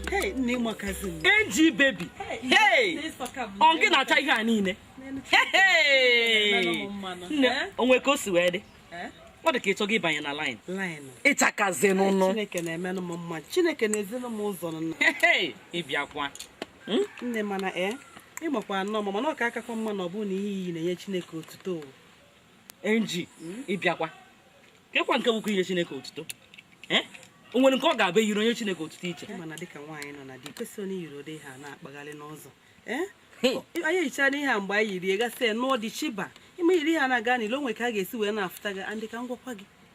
Hey, nne makazi m. NG baby hey ọ gị na-acha ihe a niile Hey, hey. Mmanụ m mmanụ. nne Eh? o nwe ka o si wee dị Eh? ọ dị ka ị chọghị ịbanye na line Line. ị chakazi nnọọ Chineke na-emenụ m mma. Chineke na-ezinụ m ụzọ nọ. Hey, hey, ị bịakwa Nne mana e ị makwa nnọọ mma mana ọ ka akakwa mma na ọ bụrụ na ihe i yi na-enye Chineke otuto. NG ị bịakwa kekwa nke bụkwa inye chineke otuto eh? o nwere nke ọ ga-abụ e yiri o nye chineke otuto iche mana dịka nwaanyị nọ na di kwesịrọ ị na-eyiri ụdị ihe a na-akpagharị n'ụzọ eh? anyị yichara ihe a mgbe anyị yiri gasị nụọ di chiba ime yiri ihe a na-aga n'ilo o nwe ka a ga-esi wee na-afụta gị aunty ka m gwakwa gị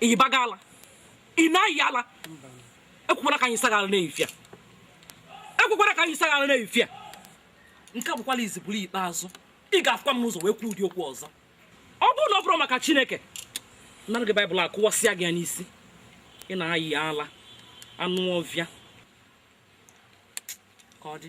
ị yibago ala ị na-ayị ala ekwekwana ka anyị saghara na-efia ekwekwana ka anyị saghara na-efia nke a bụkwala izizi bụrụ ikpeazụ ị ga-afụkwa m n'ụzọ wee kwuo ụdị okwu ọzọ ọ bụrụ na ọ bụrọ maka chineke m nara gị baịbụl a kụwasịa gị ya n'isi ị na-ayị ala anụ ọvịa ka ọ dị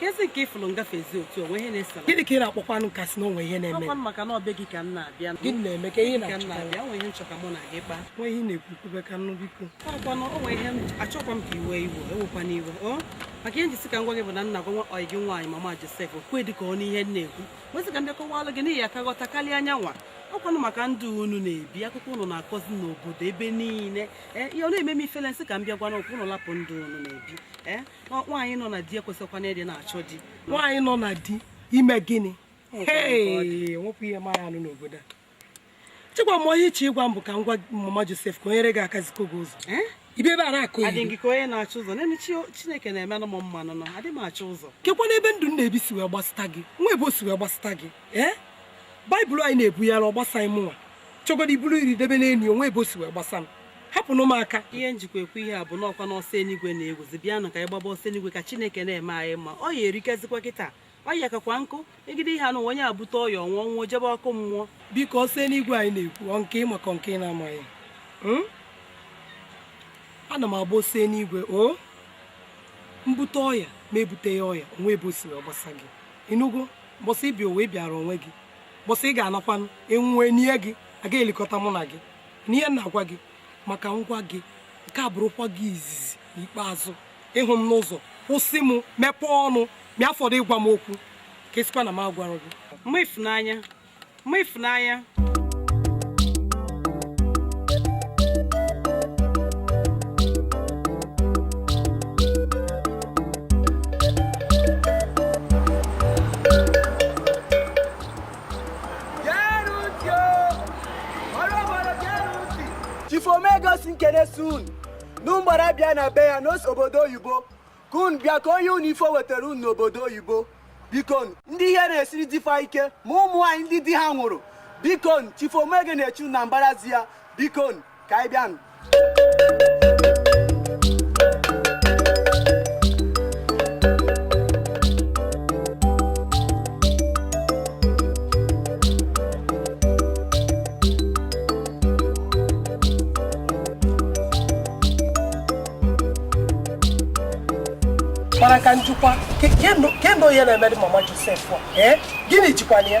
kezi nke ị fụrụ m gafezi otu o nwe ihe na-esara gịnị ka ị na-akpọkwanụ m ka a sị na o nwe ihe na-eme ọkwanụ maka na ọ be gị ka m na-abịa gịnị na-eme ka ihe ka m na-abịa o nwe ihe m chọ ka mụ na gị kpaa i nwe ihe ị na-ekwu kwube ka m nụ biko ọkwanụ o nwe ihe achọkwa m ka i we iwe ewekwana iwe ọ maka ihe m ji sị ka m gwa gị bụ na m na-agwa ọyị gị nwaanyị mama Josef okwe dị ka ọ n'ihe m na-ekwu m wee sị ka m dị kọwalụ gị na ị ya-aka ghọta karịa ya nwa ọkwanụ maka ndụ unu na-ebi akụkọ unu na-akọzi n'obodo ebe niile ee ihe ọ na-eme m ifele m sị ka m bịa gwa unu ka unu lapụ ndụ unu na-ebi ee nwaanyị nọ na di ekwesịkwana ịdị na-achọ di nwaanyị nọ na di i me gịnị nwepụ ihe m na-anụ n'obodo a echekwa m na ihe ị chọ ịgwa m bụ ka m gwa mama Josef ka o nyere gị aka zikwuo gị ụzọ eh? ibe ebe a na-akọ ihe adị gị ka onye na-achọ ụzọ n'elu chineke na-emenụ m mma nnọọ adị m achọ ụzọ kekwanụ ebe ndụ m na-ebi si wee gbasịta gị nwa ebe o si wee gbasịta gị ee eh? baịbụl a ị na-ebughalị a ọ gbasaghị m nwa chọgodo ibulu iri debe n'enyi o nwe ebe o si wee gbasa m hapụnụ m aka ihe m jikwa ekwu ihe a bụ na ọkwa n'ọsọ enigwe na-ewuzi bịanụ ka anyị gbaba ọsọ enigwe ka chineke na-eme anyị mma ọya erikazikwa kịta ọ ya kakwa nkụ megide ihe anụ onye ebute ọya ọ nwụọ ọ nwụọ jebe ọkụ mmụọ biko ọsọ enigwe a ị na-ekwu ọ nke ị ma ka nke ị na-amaghị Hmm? ana m agba ọsọ enigwe o m bute ọya m ebuteghị ọya o nwe ebe o si wee gbasa gị ị nụgo mbọsị ị bịa ụwa ị bịara onwe gị mbọsị ị ga-anakwanụ ị nwụọ e nie gị a ga-elikọta mụ na gị na ihe m na-agwa gị ma ka m gwa gị nke a bụrụkwa gị izizi na ikpeazụ ị hụ m n'ụzọ kwụsị m mepee ọnụ ma ya fọdụ ịgwa m okwu ka a sịkwa na m agwarọ gị mama Ifunanya mama Ifunanya Chifu Omego sị m kene sị unu na unu gbara bịa na be ya na o si obodo oyibo ka unu bịa ka o nye unu ife o wetara unu n'obodo oyibo bikonu ndị ihe na-esiri di fa ike ma ụmụ nwaanyị ndị di ha nwụrụ bikonu Chifu Omego na-eche unu na mbara ezi ya bikonu ka anyị bịanụ mara ka njikwa kendo ihe na-emere mama Josef a ee gịnị ijikwa anya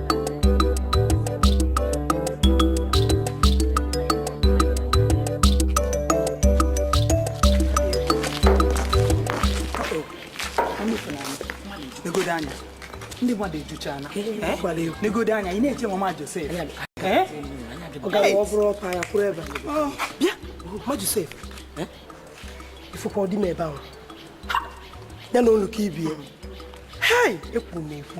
ndị mmadụ ejuchana negodu anya ị na-eche mama Josef ọ gara ọ bụrụ ọpa ya kwụrụ ebe bịa ma Josef ifụkwa di m ebe ahụ ya na olu ka ibie hei ekwuru m ekwu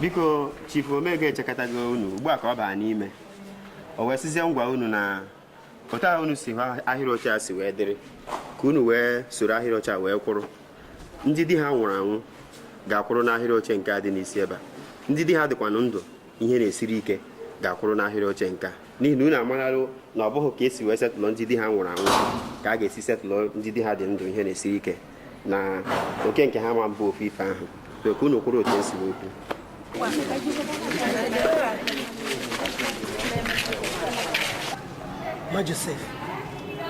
biko chifu Omego echekatago unu ugbu a ka ọ baa n'ime o wee sizie m gwa unu na otu ahụ unu si hụ ahịrị oche a si wee dịrị ka unu wee soro ahịrị oche a wee kwụrụ ndị di ha nwụrụ anwụ ga-akwụrụ n'ahịrị oche nke a dị n'isi ebe a ndị di ha dịkwanụ ndụ ihe na-esiri ike ga-akwụrụ n'ahịrị oche nke a n'ihi na unu amararụ na ọ bụghị ka esi wee settle ndị di ha nwụrụ anwụ ka a ga-esi settle ndị di ha dị ndụ ihe na-esiri ike na oke nke ha ama abụ ofu ife ahụ so ka unu kwụrụ otu esi wee kwu ma Josef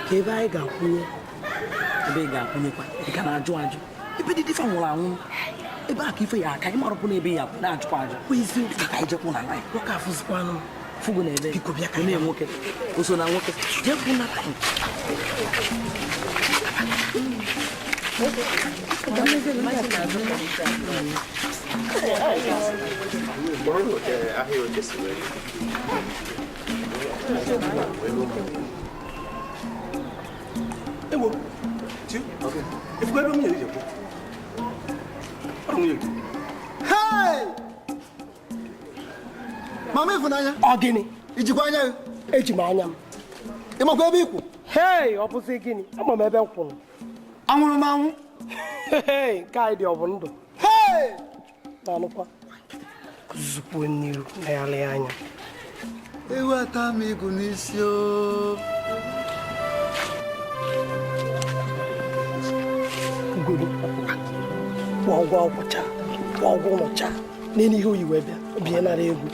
kee ebe anyị ga-akwụnye ebe ị ga-akwụnyekwa ị ka na-ajụ ajụ ebe ndị di fa nwụrụ anwụ ebe a ka ife ya aka ịmarụpụ na ebe ya na-ajụkwa ajụ kwezi ka anyị jekwụ na anyị nwoke afụzikwanụ fugo na ebe biko bịa ka onye nwoke o so na nwoke jekwụ na anyị Thank you. mama Ịfụnanya ọ gịnị ijikwa anya gị eji m anya m ị makwa ebe ị kwụ hei ọ bụzi gịnị ama m ebe m kwụrụ anwụrụ m anwụ nke anyị dị ọ bụ ndụ na-alụkwa zụpụ n'iru na ya lee anya ewu ata m igu n'isi o goro kwụọ ụgwọ ọgwụcha kwụọ ụgwọ ụlọcha n'elu ihe o yi wee bịa bie nara egwu